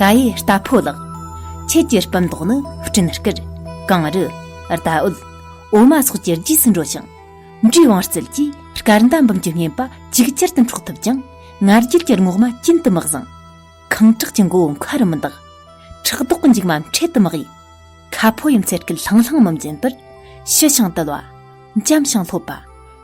ག་ཡི་རྟ་ཕོ་ལགས། ཁྱེད་ཀྱི་སྤུན་ཟློག་ནི་སྤྲིན་དཀར། གངས་རི། རྟ་འོད། འོ་མ་སོགས་ཀྱི་རྗེས་སུ་འགྲོ་ཞིང། འབྲས་དབང་རྩལ་གྱིས་སྐར་མདའ་འབུམ་གྱི་བསྙེན་པ་ཅིག་ཅར་དུ་འཕྲོག་ཐུབ་ཀྱང། ང་རྒྱལ་གྱི་རྔོག་མ་གྱེན་དུ་མི་བཟང། ཁང་ཁྲག་གི་མགོ་བོ་མཁའ་རུ་མི་འདག། ཁྲག་དོག་གི་མཇུག་མ་འཕྲེད་དུ་མི་གཡུག། ཁ་ཕོ་ཡུམ་ཚེ་སྐུ་ལྷང་ལྷང་མི་འཛིན་པར། ཞི་ཞིང་དུལ་བ། འཇམ་ཞིང་ལྷོད་པ།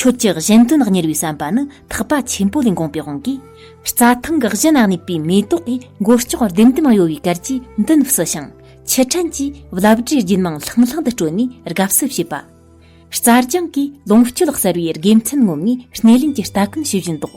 ཁྱོད་ཀྱི་གཞན་དོན་གཉེར་བའི་བསམ་པ་ནི་ཐག་པ་ཆེན་པོ་ལས་འགོངས་པའི་དབང་གིས། རྩྭ་ཐང་གི་གཞི་ན་གནས་པའི་མེ་ཏོག་གི་མགོ་ལྕོག་ལྡེམ་ལྡེམ་གཡོ་བའི་གར་གྱིས་མདུན་བསུ་ཞིང། ཕྱི་དྲན་གྱི་རླབས་སྒྲའི་རྒྱུན་མང་ལྷང་ལྷང་དུ་དཀྲོལ་ནས་དགའ་བསུ་བྱེད་པ། རྩྭ་ལྗང་གི་ལོངས་སྤྱོད་གསར་བའི་དགེ་མཚན་ངོམས་ནས་སྣེ་ལེན་གྱི་ལྟ་གོན་བྱེད་བཞིན་འདུག།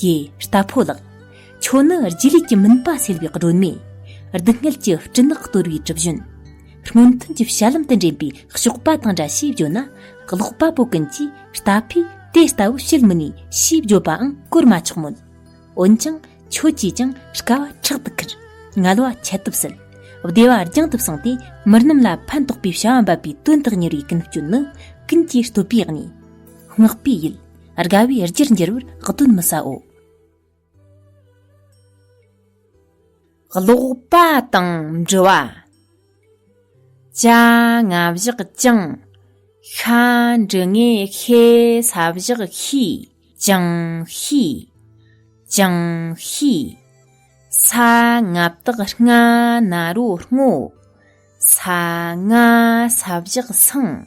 ཀྱེ་རྟ་ཕོ་ལགས། ཁྱོད་ནི་རྗེས་ལུས་ཀྱི་མུན་པ་སེལ་བའི་སྒྲོན་མེ། སྡུག་བསྔལ་གྱི་སྤྲིན་ནག་གཏོར་བའི་གྲུ་བཞོན། སྔོན་ཐོན་གྱི་ཞྭ་ལམ་དུ་འདྲེན་པའི་གཤོག་པ་དང་འདྲ་ཞེས་བརྗོད་ན། ཀློག་པ་པོ་ཀུན་གྱིས་རྟ་ཕོས་དེ་ལྟ་བུ་བཤད་མི་ནུས་ཞེས་བརྗོད་པའང་གོར་མ་ཆོག་མོད། འོན་ཀྱང་ཁྱོད་ཀྱིས་ཀྱང་དཀའ་བ་ཕྲག་ཏུ་ཁུར། ངལ་བ་ཁྱད་དུ་བསད། བདེ་བ་རྒྱང་དུ་བསྲིངས་ཏེ་མི་རྣམས་ལ་ཕན་ཐོགས་པའི་བྱ་བ་འབབ་པའི་དོན་དག་གཉེར་བའི་ཀུན་སྤྱོད་ནི་ཀུན་གྱིས་བསྟོད་པའི་གནས། བསྔགས་པའི་ཡུལ། དགའ་བའི་རྒྱུར་འགྱུར་བར་གདོན་མི་ཟའོ། ཀློག་པ་དང་འབྲི་བ། བྱ་ང་བཞག་བཅིང། ཤ་འབྲི་ངས་ཤེ་ས་བཞག་ཤི་བཅིང་ཤི། བཅིང་ཤི། ས་ང་བཏགས་སྔ་ན་རོ་སྔོ། ས་ང་ས་བཞག་སང།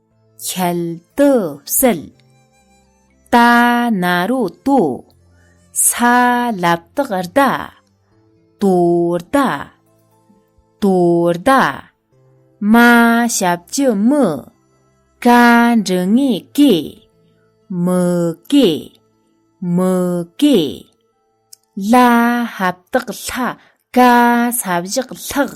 ཁྱད་དུ་བསད། རྟ་ན་རོ་ཏོ། ས་བླབ་སྟག་བརྡ། དོ་བརྡ། དོ་བརྡ། མ་ཞབས་ཀྱི་མི། ཀ་འབྲུ་ངེ་ཀེ། མི་ཀེ། མི་ཀེ། ལ་ཧབ་སྟག་ལྷ། ཀ་ས་བཞག་ལྷག།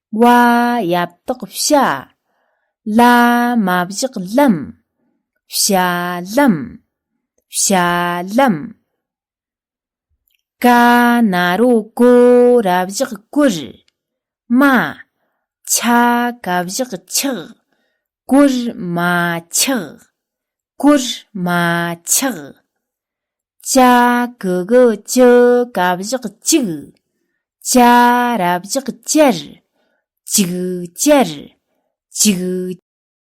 བ་ཡབ་རྟག་བྱ། བླ་མ་བཞག་ལམ་བྱ་ལམ་བྱ་ལམ། ཀ་ན་རོ་ཀོ་ར་བཞག་ཀུར། མ་ཆ་ཀ་བཞག་ཆག། ཀུར་མ་ཆག། ཀུར་མ་ཆག། ཅ་གི་གི་ཅི་ག་བཞག་གཅིག། ཅ་ར་བཞག་ཅར། ཅིག་ཅར། ཅིག།